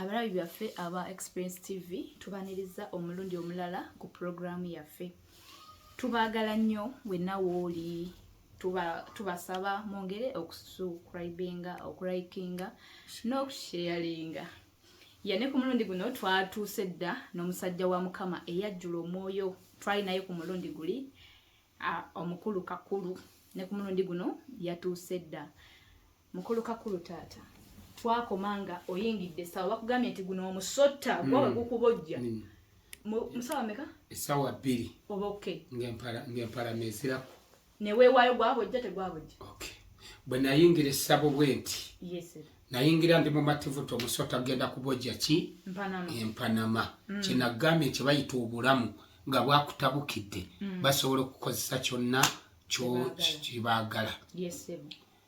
abalabi byaffe aba experience tv tubaniriza omulundi omulala ku pulogulaamu yaffe tubaagala nnyo wenna wooli tubasaba tuba mwongere okusubscribinga okulikinga n'okusheyalinga yane ku mulundi guno twatuuse dda n'omusajja wa mukama eyajjula omwoyo twali naye ku mulundi guli omukulu kakulu ne ku mulundi guno yatuuse dda mukulu kakulu taata twakoma nga oyingidde esawa bakugambye nti guno omusotta mm. gwawe gukubojja mm. musawa meka esawa bbiri oba ok ngempala neziraku neweewaayo gwabojja tegwabojja ok bwe nayingira essabo bwe nti nayingira ndi mumativuta omusota genda kubojja ki empanama mm. kyenagambye nti bayita obulamu nga bwakutabukidde basobola okukozesa kyonna kyo kibagala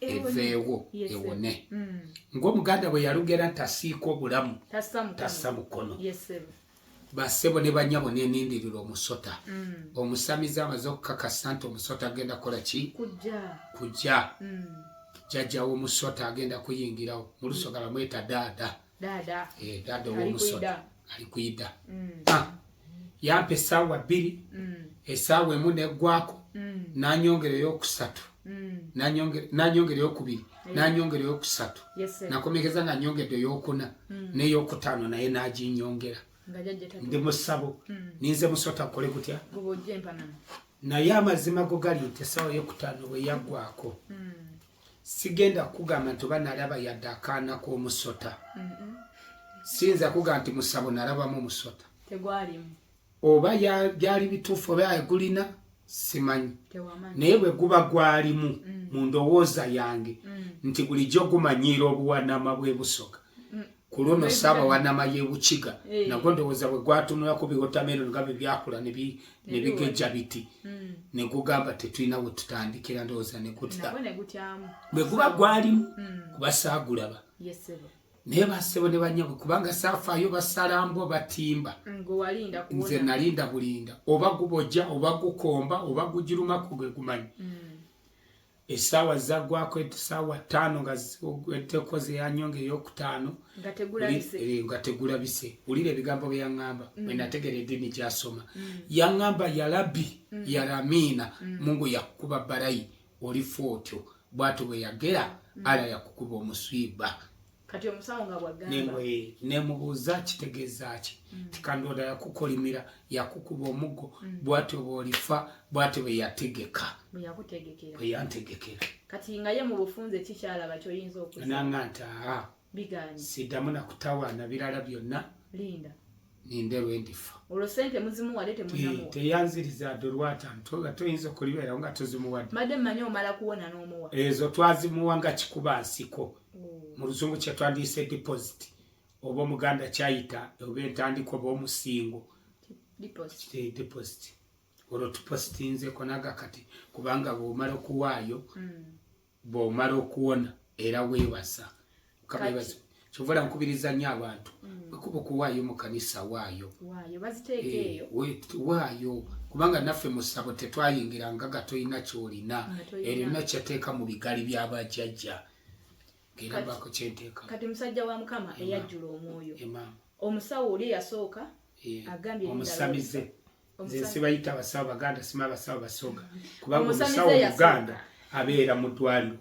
eveewo ewone mm. ngaomuganda bwe yalugera nti asiika obulamu tassa mukono basebo ne banyabo nenindirira omusota mm. omusamize amaze okukakasa nti omusota agenda kukola ki kujja mm. jajjawo omusota agenda kuyingirawo mulusoga bamweta daada dada eh dada omusota ali kuida mm. ah yampe sawa biri mm. esawa emu ne gwako mm. nanyongere yo kusatu mm. nanyongere nanyongere yo kubiri yeah. nanyongere yo kusatu yes, nakomekeza nga nyongede yo kuna mm. ne yo kutano naye naji nyongera ndi musabo mm. ninze musota kole kutya naye amazima go gali nti esawa yo kutano we yagwako mm. sigenda kukugamba nti oba nalaba yadde akaana k'omusota siyinza kukugamba nti musabo nalabamu musota oba byali bituufu oba egulina simanyi naye bwe guba gwalimu mm. mu ndowooza yange mm. nti bulijjo gumanyiira obuwanama bwe busoka ku luno saaba wanama yebukiga eh. nagwo ndowooza bwe gwatunulako biwotameroni nga bye byakula ne bigejja biti hmm. ne gugamba tetulina we tutandikira ndowooza ne gutya bwe guba gwalimu hmm. kuba saagulaba naye basebo ne banyabwe kubanga saafaayo basalambwa batimba nze nalinda bulinda oba gubojja oba gukomba oba gugirumako gwe gumanyi hmm. esaawa zagwako esaawa ttaano nga ziweddeko zeyanyo nga eyokutaano nga tegulabise eh, wulira ebigambo byeyaŋŋamba mm. wenategera eddiini gyasoma mm. yaŋŋamba yalabi mm. yaramiina mungu yakukuba barayi olifa otyo bwatyo bweyagera ala yakukuba omuswiba kati omusawo nga bwagamba nemubuuza kitegeza ki mm. tikandoda yakukolimira yakukuba omuggo mm. bwatyo bwolifa bwatyo bweyategeka bweyantegekera kati nga ye mubufunze kikyalaba kyoyinza okunanga nti aa sidamu nakutawaana birala byonna linda ninde lwendifa olwo sente muzimuwade temunamuwa teyanziriza ade olwata ntoga toyinza okulibeerawo nga tozimuwadde madde mmanyi omala kuwona n'omuwa ezo twazimuwa nga kikuba nsiko mm. mu luzungu kyetwandiyise deposit oba omuganda kyayita oba entandika oba omusingo deposit eh, olwo tupositinzeko naga kati kubanga bwomala okuwaayo mm. bwomala okuwona era webaza kabebaza kyovola nkubiriza nyo abantu mm. wekuba okuwaayo mu kanisa waayo eh, waayo kubanga naffe musabo tetwayingira ngaga tolina kyolina erina kyateeka mu bigali byabajajja kati musajja wa mukama eyajjula omwoyo omusawo oli eyasooka agambye omusamize nze sibayita abasawo baganda sima abasawo basooka kubanga omusawo omuganda abeera mu ddwaliro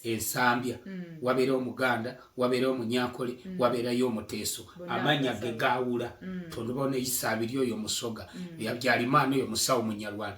ensambya mm. wabeera omuganda wabeera omunyankole mm. wabeerayo omuteeso amanya ge gaawula mm. tondubawo neyisa abiri oyo musoga yabyalimaana oyo musawo munyarwanda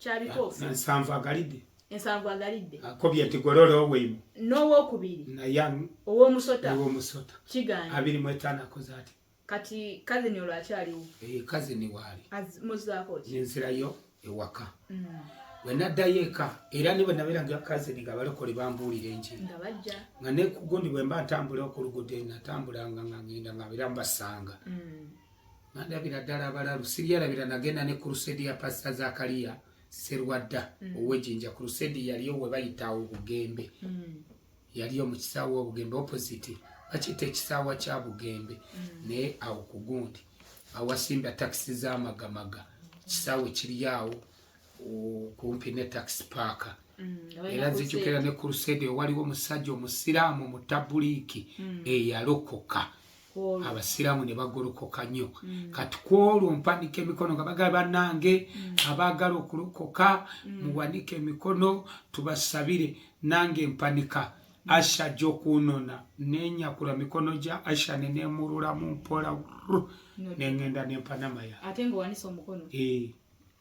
kyabikoosa ensanvu agalidde ensanvu agalidde akobye nti gololo oweimu n'owokubiri naye owomusota owomusota kiganye abiri mu etaano akoze ati kati kazini olwo akyaliwo ee eh, kazini waali muzaako ki nenzirayo ewaka mm. bwe naddayo eka era ni bwe nabeera nga kazini nga balokole bambuulira enjiri nga bajja nga nekugundi bwe mba ntambula okulugude natambulanga nga ngenda nga beera mbasanga mm. Nandabira ddala abalalu sibyalabira nagenda ne kurusedi ya pasita Zakaliya Serwadda mm. ow'ejinja kurusedi yaliyo we bayita obugembe mm. yaliyo mu kisaawa obugembe opposite bakiyita ekisaawa kya bugembe mm. naye awo ku gundi awasimba takisi z'amagamaga kisaawe kiri awo kumpi ne takisi paaka era nzijukira ne kurusedi owaliwo omusajja omusiraamu mutabuliiki eyalokoka mm. abasiraamu ne bagolokoka nnyo mm. kati ku olwo mpanika emikono nga bagaa banange mm. abaagala okulokoka mm. muwanike emikono tubasabire nange mpanika asha gyokunona nenyakula mikono gya asha nenemululamu mpola nengenda nempanamaya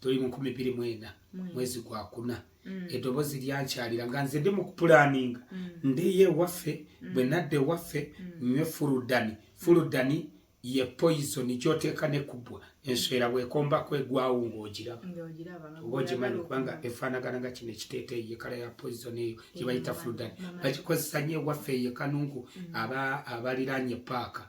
tuli mu nkumi bbiri mwenda mwezi gwa kuna mm. eddoboozi lyankyalira nga nze ndi mu kupulaaninga mm. ndeyo ewaffe mm. bwe nadda ewaffe nywe fuludani fuludani ye poison gyoteeka ne kubwa enswera bwekombako egwawo ngaogiraba oba ogimanyi kubanga efaanagana nga kino ekiteeteyi yekala ya poison eyo gyebayita fuludani bagikozesa nyo ewaffe eyo ekanungu abaliraanye paaka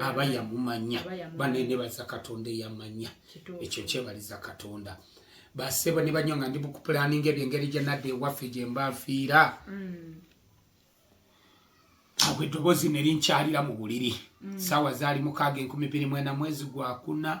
aba yamumanya banene baza katonda eyamanya ekyo kyebaliza katonda basebo ne banyo nga ndi bukupulaninga ebyo engeri gyenadde ewaffe gye mbafiira mm. awo eddoboozi ne linkyalira mu buliri mm. saawa zaali mukaaga enkumi biri mwena mwezi gwakuna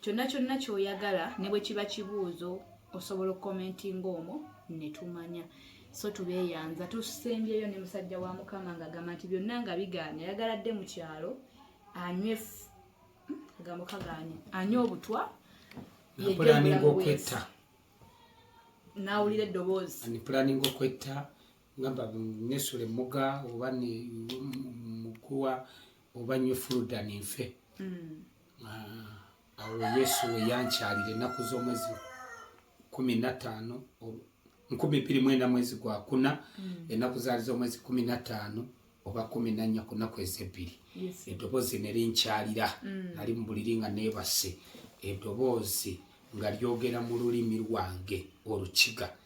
kyonna kyonna kyoyagala ne bwe kiba kibuuzo osobola okukomentinga omwo ne tumanya so tubeeyanza tusembyeyo ne musajja wa mukama nga agamba nti byonna nga bigaanye ayagala dde mu kyalo anywe hmm, agambo kagaanye anywe obutwa yejjepulaninga okwetta nawulira eddoboozi ani pulaninga okwetta ngamba nesula emmuga oba mukuwa oba nywe fuluda ninfe mm. ah, awo yesu weyankyalira ennaku z'omwezi kumi nataano nkumi bbiri mwenda mwezi gwa kuna hmm. ennaku zaali z'omwezi kumi nataano oba kumi nannya ku nnaku ezebbiri eddoboozi nerinkyalira hmm. nali mu buliri nga neebase eddoboozi nga lyogera mu lulimi lwange olukiga mm.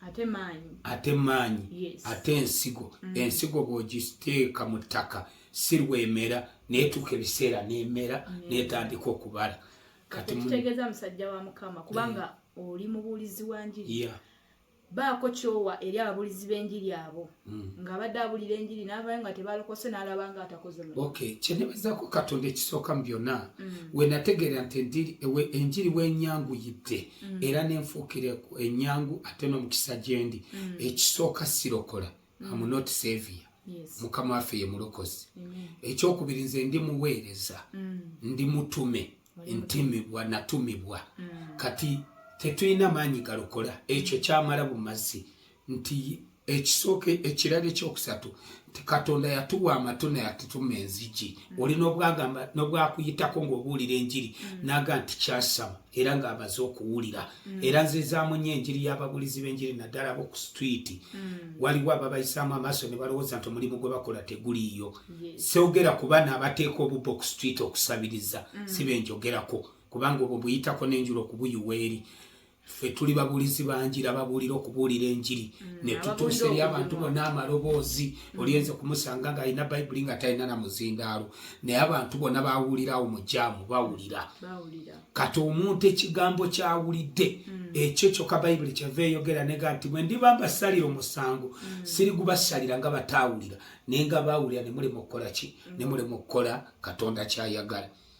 ate maanyi ate maanyi yes. ate ensigo mm. ensigo bwogiteeka mu ttaka si lwemera netuuka ebiseera nemera mm. netandika okubala katutegeeza musajja wa mukama kubanga mm. oli mubuulizi wa njiri yeah. baako kyowa eri ababuulizi b'enjiri abo mm. nga abadde abulira enjiri navayo nga tebalokose nalaba nga atakoze okay kyenebezako katonda ekisooka mu byonna mm. wenategeera nti enjiri wenyanguyidde mm. era nenfuukire enyangu ate nomukisa gyendi mm. ekisooka sirokola mm. am not savior Yes. mukama waffe ye mulokozi ekyokubiri nze ndi muweereza mm. ndi mutume ntimibwa natumibwa mm. kati tetulina maanyi galokola ekyo kyamala bumazi nti ekisooka ekirala ekyokusatu nti katonda yatuwa amatu naye atutuma enzigi mm. oli nobwagamba nobwakuyitako ngaobuwulira enjiri mm. naga nti kyasama era ngaabaze okuwulira mm. era nzezamunyo enjiri yababulizi benjiri naddala bo ku stwiti waliwo ababayisaamu amaaso ne balowooza nti omulimu gwe bakola teguliiyo seogera ku bana abateeka obubba oku stwiti okusabiriza si benjogerako kubanga obwo buyitako nenjula okubuyiwa eri ffe tuli babulizi banjira babuulira okubuulira enjiri mm, ne tutuusa eri abantu bonna amaloboozi mm. olyenze kumusanga ng'alina bayibuli nga talina na muzindaalo naye abantu bonna bawulirawo mu jaamu bawulira kati omuntu ekigambo kyawulidde mm. ekyo kyokka bayibuli kyava eyogera nega nti bwe ndiba mbasalira omusango siri gubasalira nga bataawulira naye nga baawulira ne mulema okukola ki ne mulema okukola katonda kyayagala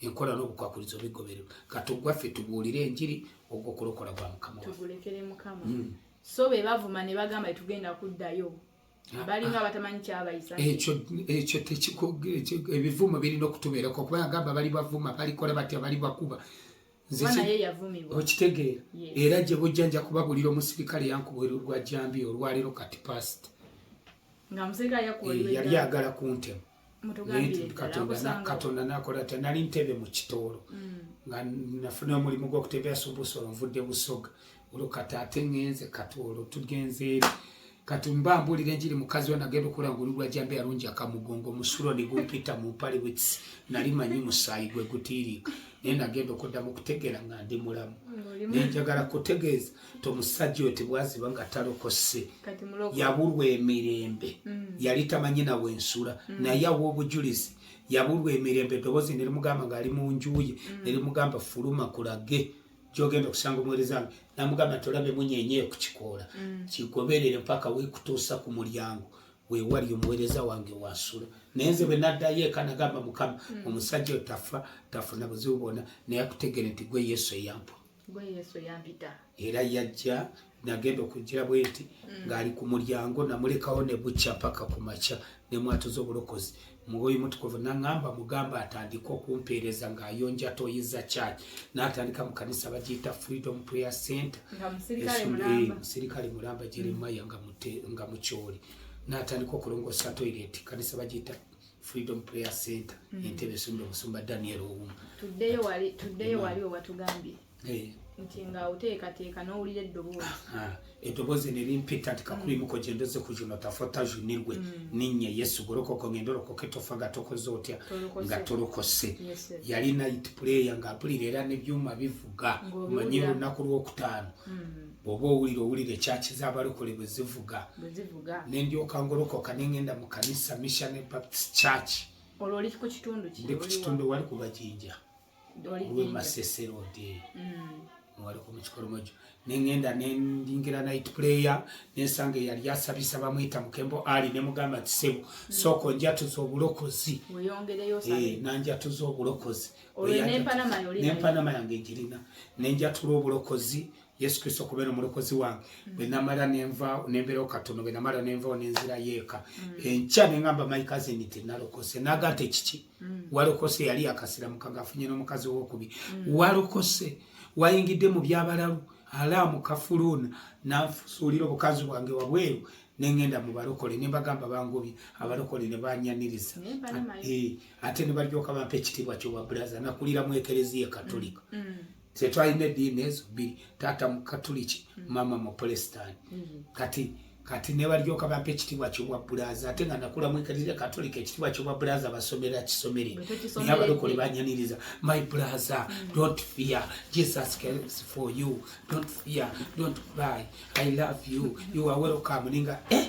enkola n'obukwakulizo bigobererwa katugwaffe tubuulire enjiri ogwo okulokola kwa mukama tugulekere mukama hmm. so be bavuma ne bagamba tugenda kuddayo ah, balinga ah. batamanyi kyabayisa ekyo ekyo tekiko ebivumo birina okutubeerako kuba agamba bali bavuma balikola batya bali bakuba okitegeera era gye bujja nja kubabulira omusirikale yankubwera olwa jambi olwaleero kati past eh, yali agala kuntema katonda nakola ta nali ntebe mu kitoolo mm. nga nafuna omulimu gwokutebera subusolo nvudde busoga olwo kati ate ngenze kati olwo tugenze eri kati mba mbuulira enjiri mukazi we nagenda okula ngulu lwa jambe yalungi akamugongo musulo ne gumpita mu mpale wits nali manyi musaayi gwe gutiiriika naye nagenda okuddamu okutegeera nga ndi mulamu nenjagala kutegeeza to musajja oyo tebwaziba nga talokose yabulwa emirembe mm. yali tamanyi nawe ensula mm. naye awa obujulizi yabulwa emirembe eddoboozi nerimugamba ngaali mu njuye mm. nerimugamba fuluma kulage gyogenda okusanga omuwereza wange namugamba nti olabe munyenye ku kikoola mm. kigoberere mpaka wekutuusa ku mulyango wewali omuwereza wange wasula naye nze bwe naddayo eka nagamba mukama mm. omusajja otafa tafuna buzibu bwona naye akutegere nti gwe yesu eyampwa era yajja nagenda okujira bwenti mm. ng'ali ku mulyango namulekawo ne bukya paka ku makya ne mwatuza obulokozi mwoyo mutukuvu naŋamba mugamba atandika okumpeereza ng'ayonja toyi za church n'atandika mu kanisa bagiyita freedom prayer center musirikale eh, mulamba jeremaya nga mutyoli n'atandika okulongoosa toilet kanisa bagiyita freedom prayer center mm. entebe esumba omusumba daniel owuma tuddeyo wali tuddeyo wali owatugambye eh. nti nga oteekateeka n'owulira eddoboozi ah, ah. eddoboozi ne limpita nti kakulimuko mm. gyendoze ku juno tafota junirwe mm. ninye yesu golokoko ngenda olokoka etofa nga tokoze otya nga tolokose yali nit player ng'apulira era n'ebyuma bivuga omanyi olunaku lw'okutaano mm. bwoba owulira owulira ekyaki zabalokole bwezivuga nendyoka ngolokoka nengenda mu kanisa missionary baptist church ndi ku kitundu wali kubajinja lwemasesero odi mm. wali ku mukikolomojo nengenda nendingira night player nensanga eyali asabisa bamwita mukembo ali nemugamba ti sebo mm. soko njatuza obulokozi eh, nanjatuza obulokozi nempanama yange egirina nenjatula obulokozi mm. yesu kristo okubeera omulokozi wange mm. bwenamala nenvao nembeerawo katono bwenamala nenvao nenzira yeeka mm. enkya nengamba maikazini tinalokose naga nti kiki mm. walokose yali yakasiramuka ngaafunye n'omukazi wokubi walokose wayingidde mu byabalalu alaamu kafuluuna nanfusuulira obukazi bwange wabweru nengenda mu balokole nembagamba bangobye abalokole ne banyaniriza eh, ate ne balyoka bampa ekitiibwa kyobwa bulaza nakulira mu ekereziya katolika ffe twalina ediini ezo bbiri taata mukatuliki maama mupulesitaani mm-hmm. kati kati nebalyoka bampa ekitibwa kyobwa bulaza ate nga nakula mwekaliza katolika ekitibwa kyobwa bulaza basomera kisomere naye abalokole banyaniriza my bulaza mm. don't fear jesus cares for you don't fear don't cry i love you you are welcome ninga eh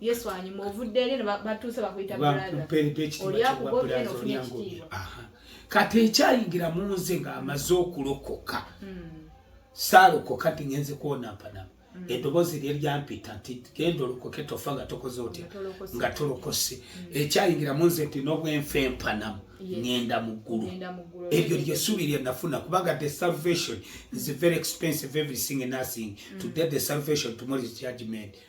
Yesu anyuma ovudde eri batuuse bakuyita bulazaolyakugobyenofunyekitiibwa kati ekyayingira mu nze ng'amaze okulokoka hmm. saalokoka ti ngenze kwonampanama hmm. eddoboozi lye lyampita nti genda olokoke tofa nga tokoze otya nga tolokose hmm. ekyayingira mu nze nti n'obwenfa empanamu ngenda mu ggulu eryo lyesuubi lye nafuna kubanga the salvation is very expensive everything and nothing today the salvation tomorrow is judgment mm.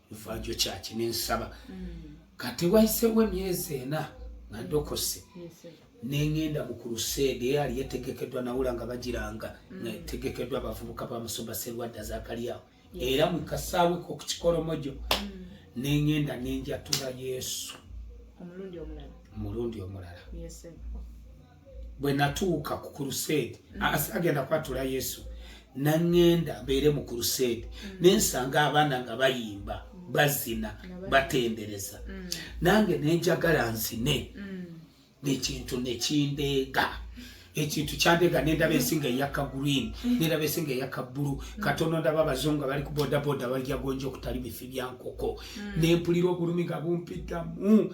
evanjo kyaki nensaba mm. kati wayisewo emyezi ena nga ndokose nengenda mu kuruseede eyali etegekedwa nawula nga bagiranga mm. nga etegekedwa abavubuka ba musumba serwadda zakalyawo era mu kasaawe kokukikolomojo mm. nengenda nenjatula yesu omulundi omulala bwe natuuka ku kuruseedi mm. agenda kwatula yesu naŋŋenda mbeere mu kuruseedi mm. ne nsanga abaana nga bayimba mm. bazina batendereza nange ne njagala nzine nekintu nekindeega ekintu kyandega nendaba ensinga eyaka green nendaba ensinga eyaka bulu katono ndaba abazungu abali ku bodaboda balyagonja okutali bifi byankoko nempulira obulumi nga bumpitamu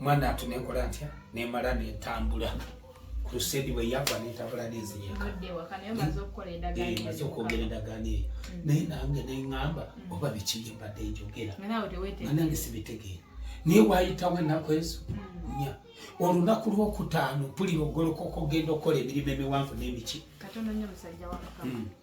mwana atu nekola ntya nemala netambula crusade bwe yagwa netambula nezinyeka maze okwogera endagaano eyo mm. naye nange neŋŋamba mm. oba biki bye mbadde njogera nange sibitegeera naye wayitawo ennaku ezo mm. nya olunaku lwokutaano mpulira ogolokoka ogenda okukola emirimu emiwanvu n'emiki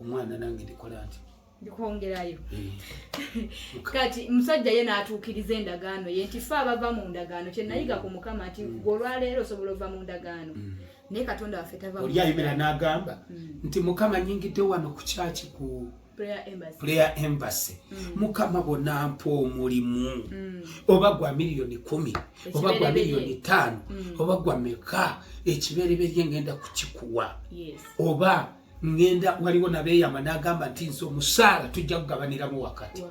omwana nange ndikola nti ndikwongerayo eh. kati musajja ye n'atuukiriza endagaano ye nti fe abava mu ndagaano kyenayiga mm. ku mukama nti mm. gwe olwaleero osobola ova mu ndagaano mm. naye katonda waffe tavaolyayimira n'agamba nti mukama nyingidde wano ku kyaki ku player embassy mm. mukama bona mpa omulimu mm. oba gwa miliyoni kumi oba gwa miliyoni tano mm. oba gwa meka ekibereberye ngenda kukikuwa oba ngenda waliwo nabeyama nagamba nti nze omusaala tujja kugabaniramu wakati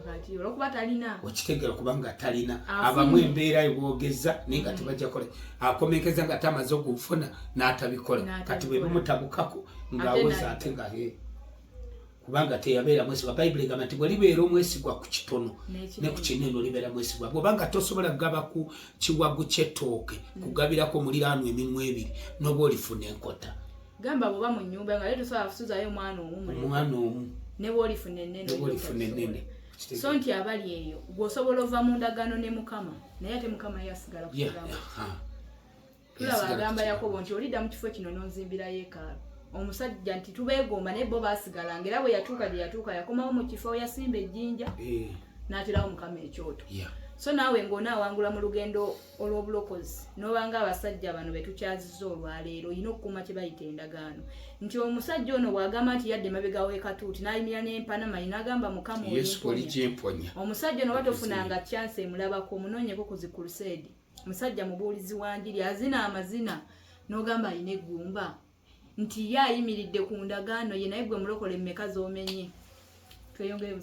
okitegera kubanga talina abamu embeera ebwogeza naye nga mm. tebajakola akomekeza nga tamaze okufuna natabikola kati bwebimutabukako ngawoza ate nga hee kubanga teyabeera mwesigwa bayibuli egamba nti bwe libeera omwesigwa ku kitono ne ku kinene olibeera mwesigwa bwobanga tosobola kugaba ku kiwagu kyetooke mm. kugabirako muliraano eminwa ebiri noba olifuna enkota gamba bwoba mu nyumba nga tosobola kusuzayo omwana omuomwana omu neba olifuna enene so nti abali eyo gweosobola ova mu ndagaano ne mukama naye ate mukama yasigala kuaa tulaba agamba yakobo nti olidda mu kifo kino n'onzimbira yeekaalu omusajja nti tubeegomba naye bo baasigalanga era bwe yatuuka gye yatuuka yakomawo mu kifo yasimba ejjinja eh. n'aterawo mukama ekyoto so naawe ng'onaawangula mu lugendo olw'obulokozi n'obanga abasajja bano be tukyaziza olwaleero olina okukuuma kye bayita endagaano nti omusajja ono bw'agamba nti yadde emabega w'ekatuuti n'ayimira n'empanama yi n'agamba mukama omusajja ono oba tofunanga kyansi emulabako omunoonyeko ku zikuruseedi musajja mubuulizi wa njiri azina amazina n'ogamba alina eggumba nti ye ayimiridde ku ndagaano ye naye gwe mulokole mmeka z'omenye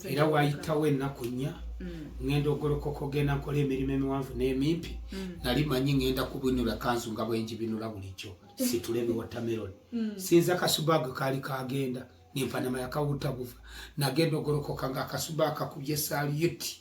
era wayitawo ennaku nnya mm. ŋenda ogolokoka ogenda nkola emirimu emiwanvu n'emimpi mm. nali manyi ŋenda kubinula kanzu nga bwenjibinula bulijjo situla ebiwotameroni mm. sinza kasubaga kaali kagenda nempanama yakawuta buva nagenda ogolokoka nga akasuba akakubye saliyuti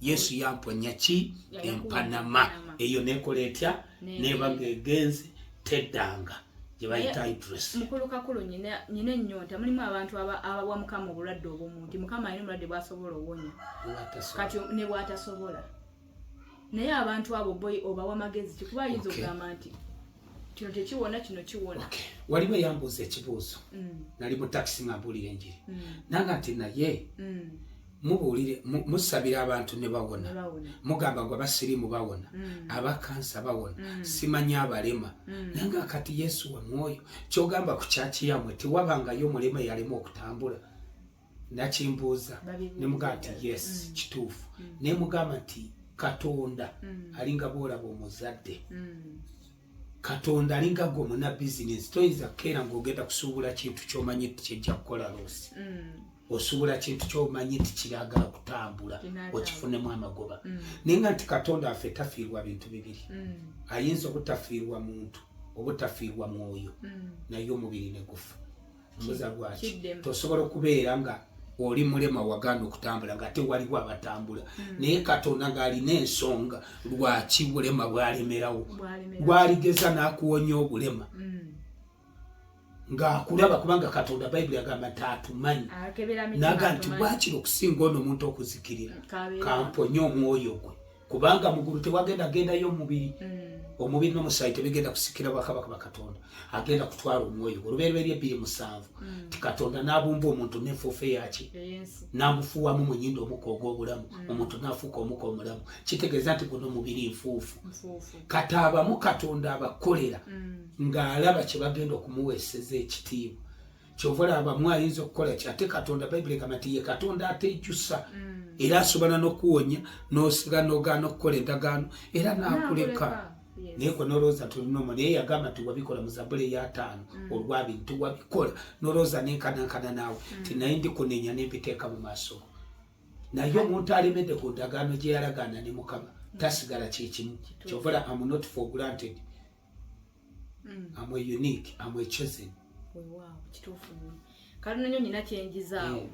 yesu yamponya ki empanama eyo nekola etya neba ngegenze teddanga gyebayita idres mukulu kakulu nyina nyina ennyonta mulimu abantu abawa mukama obulwadde obumu nti mukama alina obulwadde bwasobola owonya kati ne bwatasobola naye abantu abo boy obawa magezi kikuba ayinza okugamba nti kino tekiwona kino kiwona waliwo eyambuuza ekibuuzo mm. nali mu takisi nga mbuulira enjiri mm. nanga nti naye mm. mubuulire musabira abantu ne bawona mugamba ngo abasirimu bawona mm. abakansa bawona mm. simanya abalema mm. naye nga kati yesu wa mwoyo kyogamba ku kyaki yamwe tewabangayo omulema yalema okutambula nakimbuuza ne mugamba nti yes mm. kituufu mm. naye mugamba nti katonda mm. alinga boolaba omuzadde mm. katonda alinga gwe omuna bizinesi toyinza kukeera ngaogenda kusuubula kintu kyomanyi nti kyejja kukola loosi mm. osuubula kintu kyomanyi nti kiragala kutambula okifunemu amagoba mm. naye nga nti katonda affe tafiirwa bintu bibiri mm. ayinza obutafiirwa muntu obutafiirwa mwoyo naye omubiri negufa mbuza lwaki tosobola okubeera nga oli mulema waganda okutambula nga ate waliwo abatambula hmm. naye katonda ng'alina ensonga lwaki bulema bwalemerawo bwaligeza n'akuwonya obulema hmm. ng'akulaba kubanga katonda bayibuli agamba nti atumanyi naga nti bwakiri okusinga ono omuntu okuzikirira kamponye omwoyo gwe kubanga mugulu tewagenda agendayo omubiri mm. omubiri nomusaayi tebigenda kusikira bwakabaka bakatonda agenda kutwala omwoyo olubereberye ebbiri musanvu mm. ti katonda nabumba omuntu nenfuufe yaki namufuuwamu munyindo omuka ogwobulamu mm. omuntu nafuuka omuka omulamu kitegeeza nti guno omubiri nfuufu kati abamu katonda abakolera ngaalaba kyebagenda okumuweeseza ekitiibwa kyova laba mu ayinza okukola ki ate katonda bayibuli egamba nti ye katonda ateekyusa mm. era asobola n'okuwonya n'osiga n'ogaana okukola endagaano era n'akuleka naye kwe nolowooza tulinomo naye yagamba nti wabikola mu zabula eyataano mm. olwabiri nti wabikola nolowooza nenkanankana naawe mm. ti naye ndikunenya nembiteeka mu maaso naye omuntu alemedde ku ndagaano gye yalagaana ne mukama tasigala kyekimu kyovola am not for granted mm. am a unique am a chosen wow kitufu kalino nyo nyina kyenjizaawo yeah.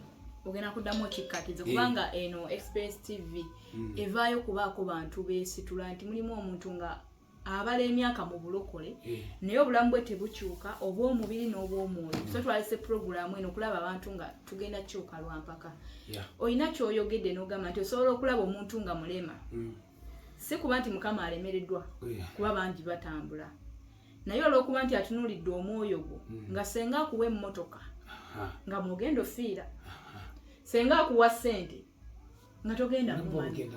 ogenda kuddamu okikkatiza eh. kubanga eno express tv mm. evaayo kubaako bantu beesitula nti mulimu omuntu nga abala emyaka mu bulokole eh. naye obulamu bwe tebukyuka obw'omubiri n'obw'omwoyo so twalese puroguramu eno okulaba abantu nga tugenda kyuka lwampaka olina kyoyogedde n'ogamba nti osobola okulaba omuntu nga mulema mm. si kuba nti mukama alemereddwa oh, kuba bangi batambula naye olwokuba nti atunuulidde omwoyo gwo hmm. nga senga akuwa emmotoka nga mwogenda ofiira senga akuwa ssente nga togenda mumani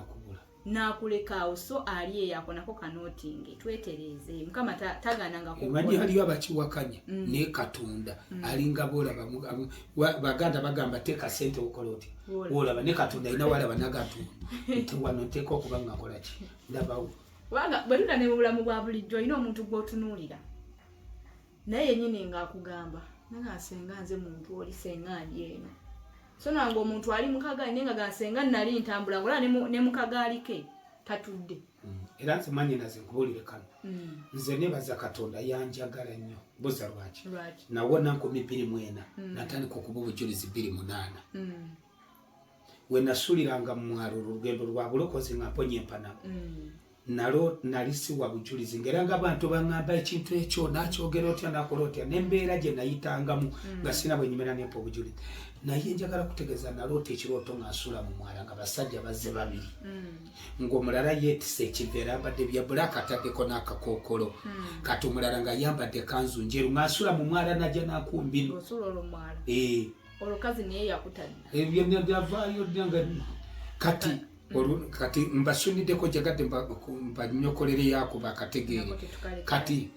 nakulekaawo so ali eyo akonako kanotinge twetereeze mukama taganangaaliyo abakiwakanya mm. naye katonda mm. alinga bolaba baganda bagamba teeka sente okola otya olaba ne katonda alina walaba nagatunda nti wano nteeka okuba nga nkola ki ndabawo kubanga bwe tuda ne mu bulamu bwa bulijjo olina omuntu gw'otunuulira naye yennyini ng'akugamba naga nsenga nze muntu oli senga ndi eno so nange omuntu ali mukagaali naye nga gansenga nali ntambula ngolaba ne mukagaali ke tatudde mm. era nze mwanyinaze nkubuulire kano mm. nze nebaza katonda yanjagala nnyo buza lwaki nawona nkumi bbiri mwena mm. natandika okuba obujulizi bbiri munaana wenasuliranga mumwalo olugendo lwa bulokozi nga mponya empanamu nalo nali siwa bujulizi ngaera nga abantu baŋamba ekintu ekyo nakyogera otya nakola otya nembeera gye nayitangamu nga sina bwenyumira nempa obujulizi naye njagala kutegeeza naloota ekirooto ngansula mu mwala nga basajja bazze babiri mm. ng'omulala yeetise ekiveera abadde bya bulaaka ataddeko n'akakookolo hmm. kati omulala nga yambadde kanzu njeru ng'asula mu mwala najja nakumbino eh. olukazi naye yakutali ebyo eh, byavaayo dda nga kati kati mbasuniddeko jagadde mbanyokolere yakuba akategeere kati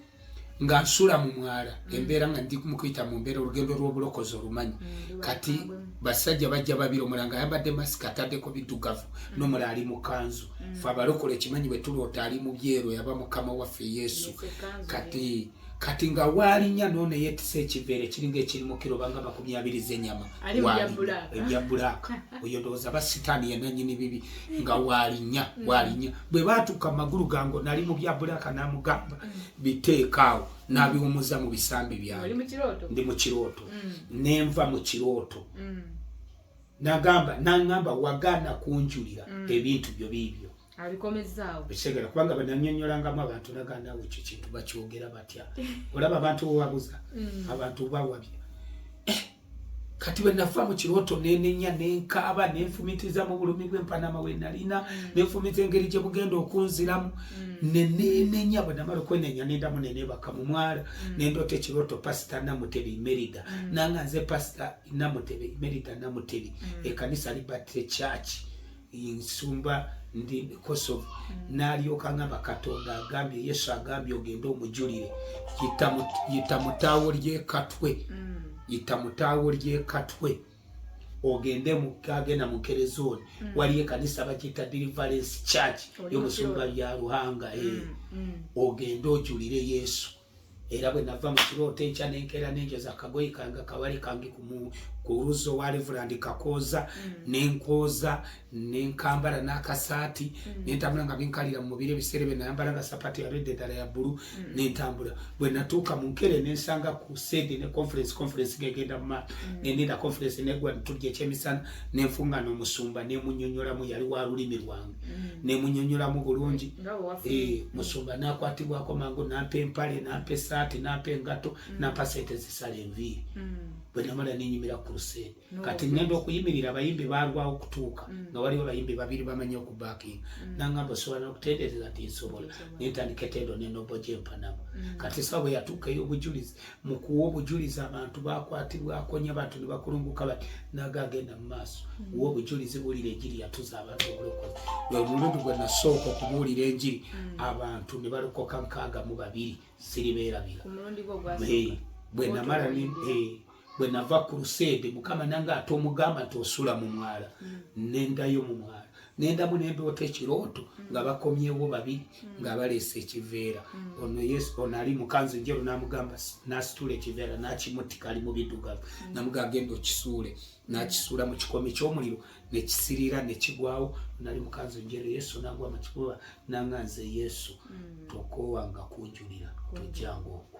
nga nsula mu mwala mm. embeera nga ndi mukuyita mu mbeera olugendo lw'obulokozi olumanyi mm, kati basajja bajja babiri omulala nga ayambadde masika ataddeko biddugavu mm. nomulala ali mu kanzu fe abalokola ekimanyi bwe tuloota ali mu byeru yaba mukama waffe yesu kati kati nga waalinya noona yetisa ekiveere kiringa ekirimu kiro banga makumi abiri zenyama ebya bulaaka oyo ndowooza ba sitaani yenanyini bibi nga waalinya mm. waalinya bwe baatuuka mu magulu gange nali mu bya bulaaka n'amugamba mm. biteekaawo n'abiwumuza mu bisambi byange ndi mu kirooto mm. ne nva mu kirooto nagamba nangamba wagaana kunjulira ebintu byo biibyo ekitegera kubanga bananyonyolangamu abantu nagandawo ekyo kintu bakyogera batya olaba abantu wewabuza abantu bawabya kati bwe nafa mu kirooto nenenya nenkaaba nenfumitiza mu bulumi bw'empanama we nalina mm. nenfumita engeri gye bugenda okunziramu mm. nenenenya bwe namala okwenenya nendamu nenebaka mu mwala mm. nendoota ekirooto pasita namutebi imerida nanga nze pasita namutebi imerida namutebi ekanisa liberty church nsumba ndi kosovo mm. nalyoka ngamba katonda agambye yesu agambye ogende omujulire yita mutaawo lyekatwe mm. yita mutaawo lyekatwe ogende agenda mukerezoni mm. waliyo ekanisa bakiyita deliverance church yomusumba bya ruhanga eh. ogende ojulire yesu era bwe nava mu kirooto enkya nenkeera nenjoza kagoyi kange kawale kange ku luzzo wa reverand kakooza mm. nenkooza nenkambala n'akasaati mm. nentambula nga binkalira mu mubiri ebiseera bye nayambala nga sapati yaredde eddala ya bbulu mm. nentambula bwe natuuka mu nkere nensanga ku sedi ne conference conference gegenda mu maato nendiira conference negwa netulya ekyemisana nenfunga n'omusumba nemunyonyolamu yali wa lulimi lwange mm. nemunyonyolamu bulungi eh, musumba nakwatibwako mangu nampa empale nampa esaati nampa engato mm. nampa sente zisala enviiri mm. bwenamala nenyimira ku lusente kati ngenda okuyimirira abayimbi balwawo okutuuka nga waliwo abayimbi babiri bamanya okubakinga nangamba osobola nokutendereza ti nsobola nentandika etendo nenobo gyempanamu kati sawa bweyatuuka ey'obujulizi mu kuwa obujulizi abantu bakwatibwako nyo abantu ne bakulunguka bati naga agenda mu maaso mm. wa obujulizi buulira enjiri yatuza abantu obulokozi lwe mulundi gwe nasooka okubuulira enjiri mm. abantu ne balokoka nkaaga mu babiri siribeerabira bwe namala bwe nava ku luseede mukama nange ate omugamba nti osula mu mwala mm. nendayo mu mwala nendamu nendoota ekirooto mm. nga bakomyewo babiri mm. nga baleese ekiveera mm. ono yesu ono ali mukanzu njeru namugamba nasitula ekiveera nakimutika ali mubidugavu namuga agenda okisuule nakisuula mu kikomi kyomuliro nekisirira nekigwawo nali mukanzu njeru yesu nagwa makikuba nanganze yesu tokowanga kunjulira tojjanga okwo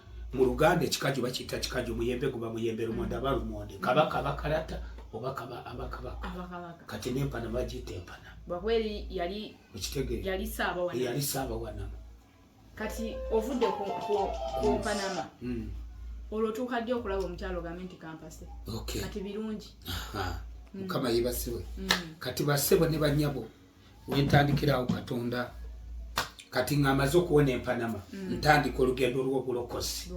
mu luganda ekikaju bakiyita kikaju muyembe guba muyembe lumonde aba lumonde kabaka abakalata oba kaba abakabaka kati nempana bagiyita empana okitegeeyali saabawanama kati ovudde ku mpanama hmm. olwo otuuka ddi okulaba omukyalo ogambe nti kampase kati birungi mukama yebasiwe hmm. kati basebo ne banyabo wentandikira awo katonda kati nga amaze okuwona empanama mm. ntandika olugendo lwobulokozi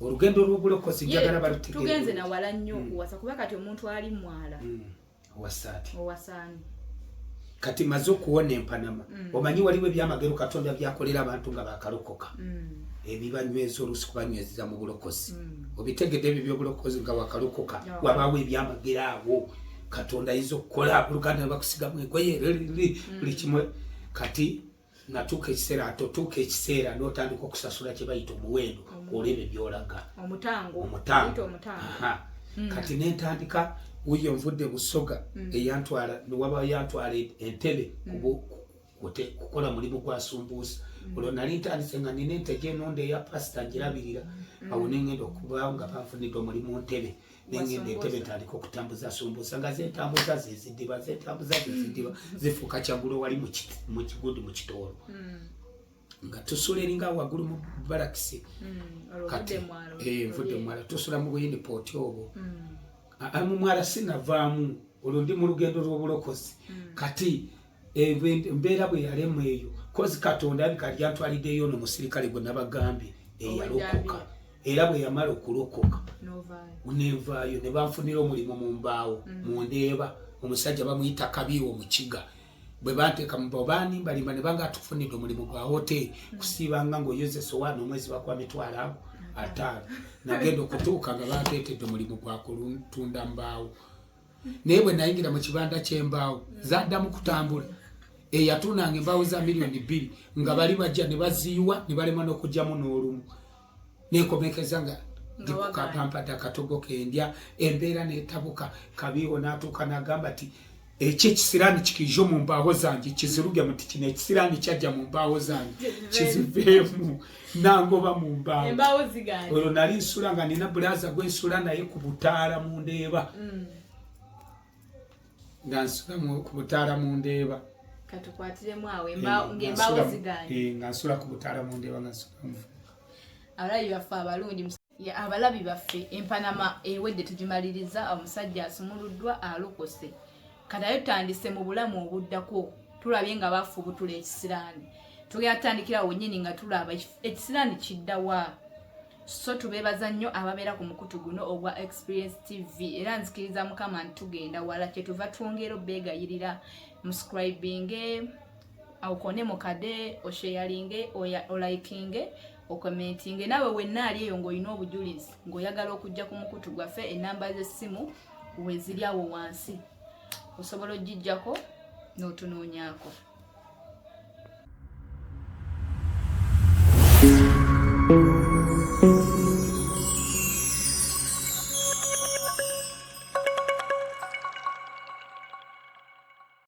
olugendo lwobulokozi njagala batugenze nawala nnyo mm. okuwasa kuba kati omuntu ali mwala mm. owasaati owasaani kati maze okuwona empanama mm. omanyi waliwo ebyamagero katonda byakolera abantu nga bakalokoka mm. ebibanyweza olusi kubanywezeza mu bulokozi mm. obitegedde ebyo byobulokozi nga wakalokoka yeah. wabaawo ebyamagero awo katonda ayinza okukola buluganda nebakusigamu egoye mm. buli kimwe kati natuuka ekiseera atotuuka ekiseera notandika okusasula kyebayita omuwendo olwebyo byolaga omutango mm. kati nentandika wuyo nvudde busoga mm. eyantwala niwaba yantwala entebe ote kukola mulimu gwa sumbuusa mm. olwo nali ntandise nga nina ente gyenonda eya pasita ngirabirira mm. awo nengenda okuba nga banfunidde omulimu ntebe nengenda entebe ntandika okutambuza sumbuusa nga zetambuza zezidiba zetambuza zezidiba mm. zifuuka kyagulo wali mukigundi mu kitoolo nga tusula eringa waggulu mu balakisi kati eh, nvudde mumwala tusula mu buyini pooti obwo mumwala sinavaamu olwo ndi mu lugendo lw'obulokozi kati embeera bwe yalemu eyo kozi katonda abika lyantwaliddeyo no musirikale gwe nabagambye eyalokoka era bwe yamala okulokoka nenvaayo ne banfunira omulimu mu mbaawo mm. mu ndeeba omusajja bamuyita kabiiwo mu kiga bwe banteeka mu bao banimbalimba ne banga atufunidde omulimu gwa hoteeri mm. kusiibanga ng'oyozesa owaana omwezi bakwa mitwalo ago mm. ataano nagenda okutuuka nga banteetedde omulimu gwa kutunda mbaawo naye bwe nayingira mu kibanda ky'embaawo zaddamu kutambula eyatuunanga embaawo za miliyoni bbiri nga bali bajja ne baziyiwa ne balema n'okugyamu n'olumu nekomekeza nga ndikukapampata katogo kendya embeera netabuka kabiiwo n'atuuka n'agamba ti ekyo ekisiraani kikiijo mu mbaawo zange kiziruge muti kino ekisiraani kyajja mu mbaawo zange kiziveemu nangoba mu mbaawo olwo nali nsula nga nina bulaza gwe nsula naye ku butaala mu ndeeba mm. nga nsula ku butaala mu ndeeba nga nsula ku butaala mu ndeeba nga nsula abalabye baffe abalungi abalabi baffe empanama ewedde tugimaliriza omusajja asumuluddwa alokose katayo tutandise mu bulamu obuddako tulabye nga bafubutula ekisiraani tugenda tutandikira wenyini nga tulaba ekisiraani kiddawa so tubebaza nnyo ababeera ku mukutu guno ogwa experience tv era nzikiriza mukama nti tugenda wala kyetuva twongera obegayirira muscribinge aukone mukade osheyalinge olaikinge okomentinge nawe wenna ali eyo ng'olina obujulizi ng'oyagala okujja ku mukutu gwaffe enamba z'essimu weziri awo wansi osobola okugijjako n'otunoonyaako